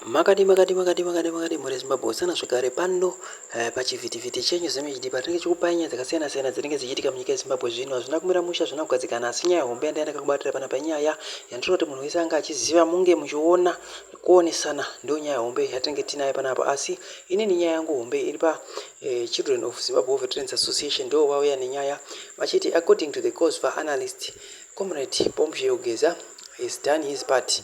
Makadii makadii makadii makadii makadii mhuri yeZimbabwe Hosana zvekare pano eh, pachivhitivhiti chenyu ZimHD patinenge tichikupai nyaya dzakasiyana siyana dzinenge dzichiitika munyika yeZimbabwe zvino hazvina kumira mushe hazvina kugadzikana asi nyaya hombe yandaiya ndakakubatira panapa inyaya yandinoda kuti munhu wese anga achiziva munge muchiona kuonesana ndiyo nyaya hombe yatinenge tinayo panapa asi inini nyaya yangu hombe iri pa eh, Children of Zimbabwe Veterans Association ndiwo vauya nenyaya vachiti according to the COSVA analyst Comrade Pompeo Geza is done his part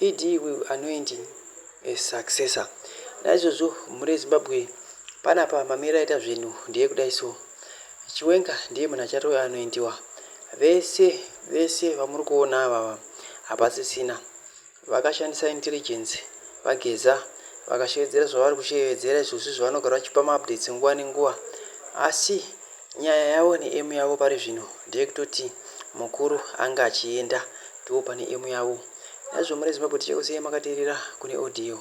ED will anoint a successor naizvozvo mhuri yeZimbabwe panapa mamiriro aita zvinhu ndeekudai so. Chiwenga ndiye munhu achatove anointiwa. Vese vese vamuri kuona avava hapasisina vakashandisa intelligence vaGeza vakashevedzera zvavari kushevedzera izvozvi zvavanogara vachipa maupdates nguva nenguva asi Nyaya yavo ne aim yavo pari zvino ndeyekutoti mukuru ange achienda ndivo pane aim yavo. Naizvo mari yeZimbabwe tichakusiyayi makaterera kune audio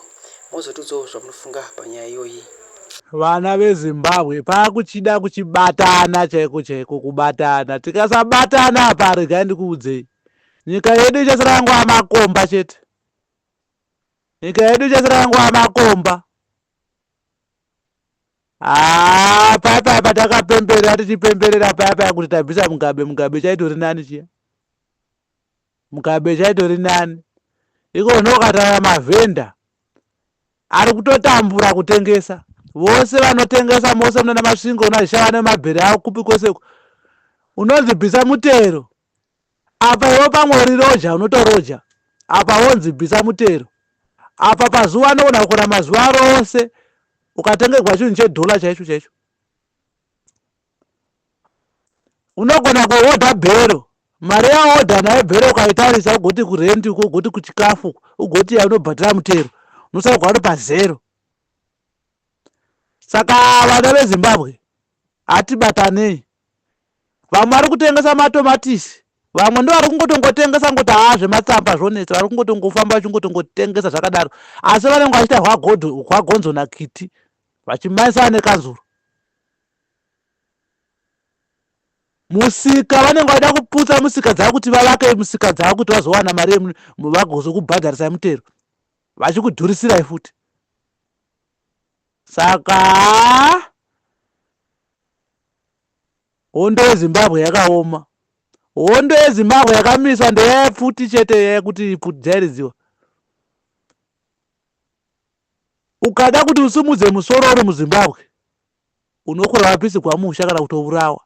mozotiudzawo zvamunofunga panyaya iyoyi. Vana veZimbabwe pakuchida kuchibatana chaiko chaiko kubatana tikasabatana apa regai ndikuudzei nyika yedu ichasara yangova makomba chete nyika yedu ichasara yangova makomba haa paya paya patakapemberera tichipemberera paya paya kuti tabvisa mugabe mugabe chaitori nani chiya mugabe chaitori nani iko nokatara mavhenda ari kutotambura kutengesa vose vanotengesa mose munana masvingo unazvishava nemabhere awo kupi koseko unozibvisa mutero Apa iwe pamwe uri roja unotoroja apa wonzi bvisa mutero apa pazuva anogona kukora mazuva rose ukatengerwa chinhu chedhola chaicho chaicho unogona kuhodha bhero mari yahodha nayo bhero ukaitarisa ugoti kurendi uko ugoti kuchikafu ugoti yaunobhadhara mutero unosauka uri pazero saka vana vezimbabwe hatibatanei Vamwe vari kutengesa matomatisi vamwe ndo vari kungotongotengesa ngoti haa zvematsamba zvonetsa vari kungotongofamba vachingotongotengesa zvakadaro asi vanenge vachiita hwagonzo nakiti vachimanyisana nekanzuro musika vanenge vaida kuputsa musika dzavo kuti vavake musika dzavo kuti vazowana mari vagozokubhadharisai mutero vachikudhurisirai futi saka Hondo yeZimbabwe yakaoma. Hondo yeZimbabwe yakamiswa ndeyepfuti chete yekuti ipfuti dzairiziwa. Ukada kuti usimudze musoro uri muZimbabwe unokura wapisirwa musha kana kutovurawa.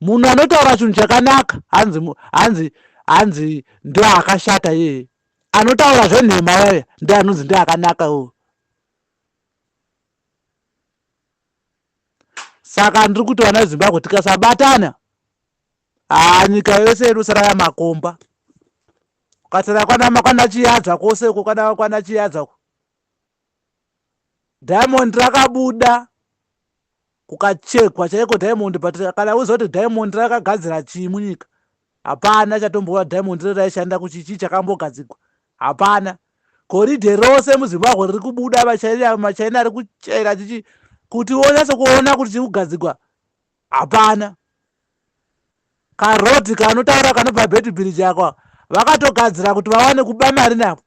Munhu anotaura chinhu chakanaka hanzi hanzi hanzi ndoakashata yeye. Anotaura zvenhema yaya ndianonzi ndiakanaka uyu. saka ndiri kuti vana vezimbabwe tikasabatana haa nyika yose inosara yamakomba ukasara kwana chiyadza kwose uko kwana kwana chiyadza uko diamond rakabuda kukachekwa chaiko diamond but kana uziva kuti diamond rakagadzira chii munyika Hapana chatombova diamond rere raishanda kuchi chii chakambogadzigwa. Hapana. Goridhe rose muZimbabwe riri kubuda vaChina maChina ari kuchera chichi kuti wonyatso kuona kuti chiri kugadzigwa. Hapana. Karoti kanotaura kanobva Betty Bridge akwa vakatogadzira kuti vawane kuba mari napo.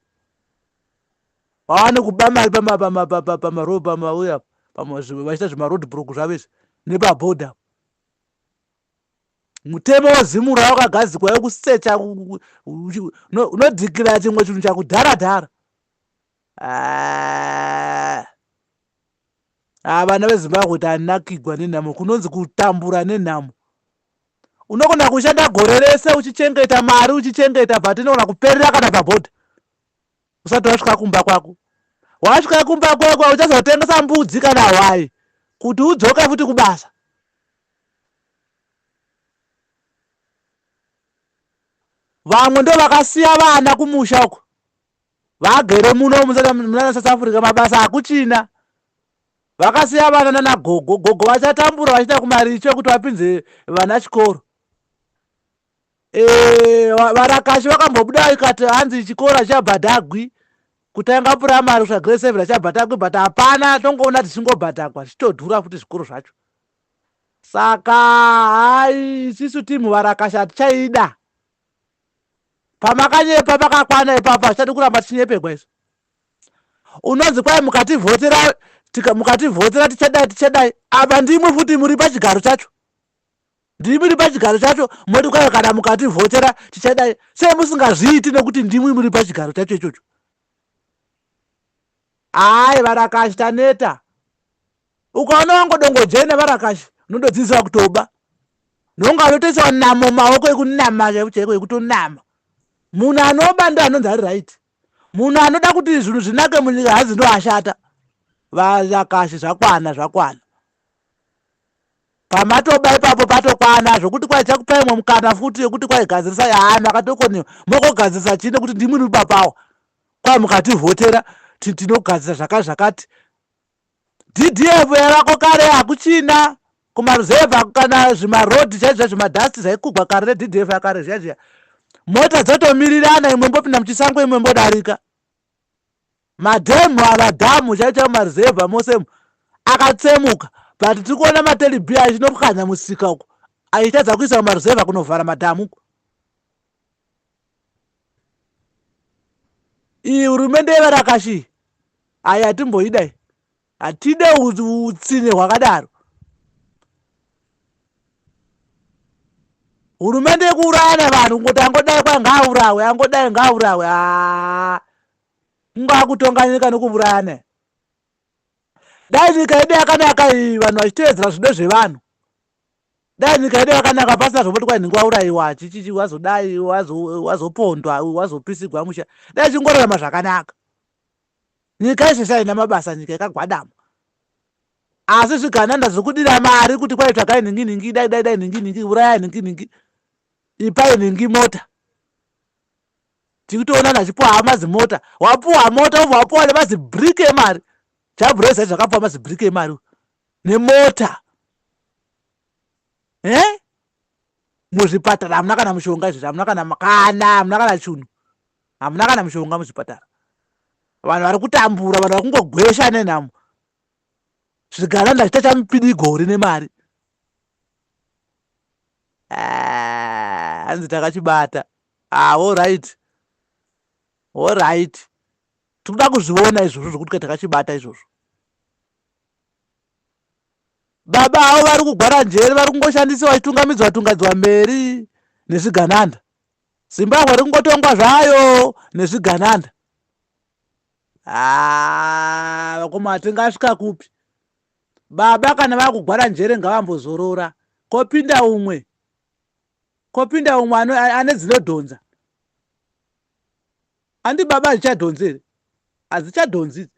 Vawane kuba mari pama pama pama pama road pama uya pama vachita zvema road block zvavo izvi nepa border. mutemo wezimura wakagadzikwa wekusecha unodhikira chimwe chinhu chakudhara dhara ah. ah, vana vezimbabwe tanakigwa nenhamo kunonzi kutambura nenhamo unogona kushanda gore rese uchichengeta mari uchichengeta but inogona kuperera kana pabhodha usati wasvika kumba kwako wasvika kumba kwako uchazotengesa mbudzi kana hwai kuti udzoke futi kubasa vamwe ndo vakasiya vana kumusha uko vagere muno munana south africa mabasa hakuchina vakasiya vana nana gogo gogo vachatambura vachiita kumaricho kuti vapinze vana chikoro eh, varakashi vakambobuda ikati hanzi chikoro chichabhadhagwi kutanga puramari kusvika grade seven achibhadhakwa but hapana tongoona tichingobhadhakwa zvichitodhura futi zvikuru zvacho Saka hayi isisu team varakasha hatichaida. Pamakanyepa pakakwana ipapa zvichadi kuramba tichinyepegwa isu. Unonzi kwai mukativhotera mukativhotera tichadai tichadai apa ndimwe futi muri pachigaro chacho ndimwi ri pachigaro chacho moti kwayo kana mukativhotera tichadai sei musingazviiti nekuti ndimwi muri pachigaro chacho ichocho hayi varakashi taneta ukaona wangodongodzvei nevarakashi unondodzidzisa kutoba nonga anotoisawa namo maoko ekunama chaivo chaiko ekutonama munhu anoba ndo anonzi ari right munhu anoda kuti zvinhu zvinake munyika hanzi ndo ashata varakashi zvakwana zvakwana pamatoba ipapo patokwana zvokuti kwaichakupai mwe mukana futi yekuti kwaigadzirisa yaa makatokonewa mokogadzirisa chii nekuti ndimwini ubapawo kwai mukativhotera tinogadzira zvakati zvakati DDF yavako kare hakuchina kumaruzevha kana zvimarodhi chaizvo chaizvo madhasti zvaikugwa kare neDDF yakare zviya zviya. Mota dzotomirirana imwe mbopinda muchisango imwe mbodarika. Madhemu ava dhamu chaicho chaivo maruzevha mose akatsemuka but tiri kuona matelibi achinopwanya musika uko achitadza kuisa kumaruzevha kunovhara madhamu uko. iyi hurumende yevarakashi ayi hatimboidai hatide utsinye hwakadaro hurumende yekuuraya nevanhu kungoti angodai kwa ngaaurawe angodai ngaaurawe haa ngaakutonga nyika nekuuraya ne dai nyika yedu yakanaka iyi vanhu vachiteedzera zvido zvevanhu dai nyika yedu yakanaka pasina zvomoti kwai nhingi waurayiwa chichichi wazodai wazopondwa wazopisigwa musha dai chingorarama zvakanaka nyika yese saina mabasa nyika yakagwadama asi zvigananda zviri kudira mari kuti kwai tsvagai nhingi nhingi dai dai dai nhingi nhingi urayai nhingi nhingi ipai nhingi mota tikutoona nachipuwa hama zimota wapuwa mota ubva wapuwa nemazibriki emari chabhureza izvakapuwa mazibriki emari nemota eh? muzvipatara hamuna kana mushonga izvozvi hamuna kana kana hamuna kana chunhu hamuna kana mushonga muzvipatara vanhu vari kutambura vanhu vari kungogwesha nenhamo zvigara ndachita chamupidi gore nemari ah, hanzi takachibata ah, orit orit tikuda kuzviona izvozvo zvokuti ka takachibata izvozvo baba avo vari kugwara njere vari kungoshandisiwa vachitungamidzwa tungadzwa mberi nezvigananda zimbabwe ri kungotongwa zvayo nezvigananda haa ah, vakoma tingasvika kupi baba kana vakugwara njere ngavambozorora kopinda umwe kopinda umwe ane dzinodhonza andi baba hazichadhonzi here hazichadhonzi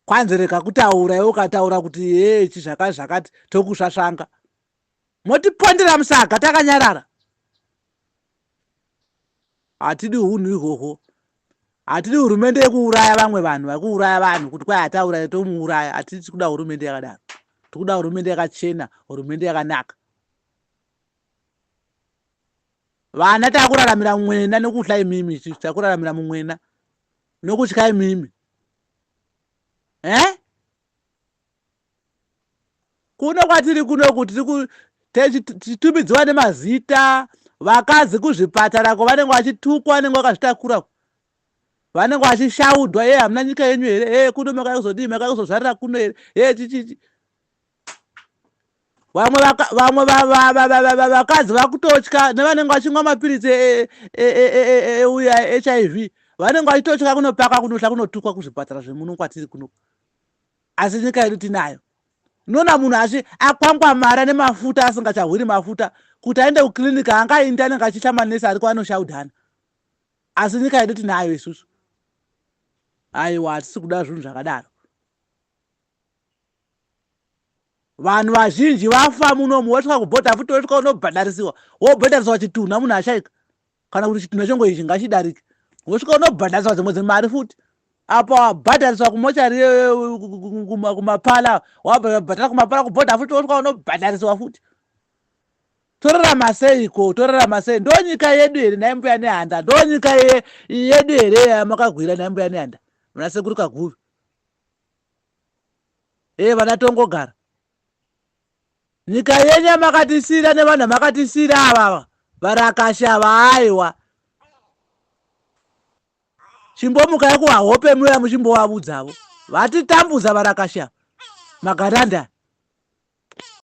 kwanzi rega kutaura iwe ukataura kuti hechi zvakati zvakati tokusvasvanga motipondera musaga takanyarara hatidi hunhu ihwohwo hatidi hurumende yekuuraya vamwe vanhu vakuuraya vanhu kuti kwai hatauraya tomuuraya hatidi tikuda hurumende yakadaro tikuda hurumende yakachena hurumende yakanaka Vana takuraramira mumwena nokutya imimi isusu takuraramira mumwena nokutya imimi. Eh? Kuno kwatiri kuno kuti tichitumidziwa nemazita vakadzi kuzvipatara ko vanenge vachitukwa vanenge vakazvitakura vanenge vachishaudwa ye hamuna nyika yenyu here e kuno makakuzodii makakuzozvarira kuno here e chichichi vamwe vamwe vakadzi vakutotya nevanenge vachinwa mapiritsi euya hiv vanenge vachitotya kunopaka kunohla kunotukwa kuzvipatara zvemuno kwatiri kuno asi nyika yedu tinayo unoona munhu asi akwangwamara nemafuta asingachahwiri mafuta kuti aende kuclinic angaindi anenge achitya manesi ariko anoshaudhana asi nyika yedu tinayo isusu aiwa hatisi kuda zvinhu zvakadaro vanhu vazhinji vafa munomu wosvika kubhodha futi wosvika unobhadharisiwa wobhadharisiwa chitunha munhu ashaika kana kuti chitunha chengo ichi ngachidarike wosvika unobhadharisiwa dzimwe dzemari futi apo wabhadhariswa kumochari kumapala wabhadhara kumapala kubhodha futi wosvika unobhadharisiwa futi torarama sei ko torarama sei ndo nyika yedu here nhai mbuya nehanda ndo nyika yedu here yamakagwira nhai mbuya nehanda munasekuru kaguvi ee vana tongogara nyika yenyu yamakatisira nevanhu amakatisira avava varakashi ava aiwa chimbomuka yakuvahope muya muchimbovavudza avo vatitambudza varakashi ava magaranda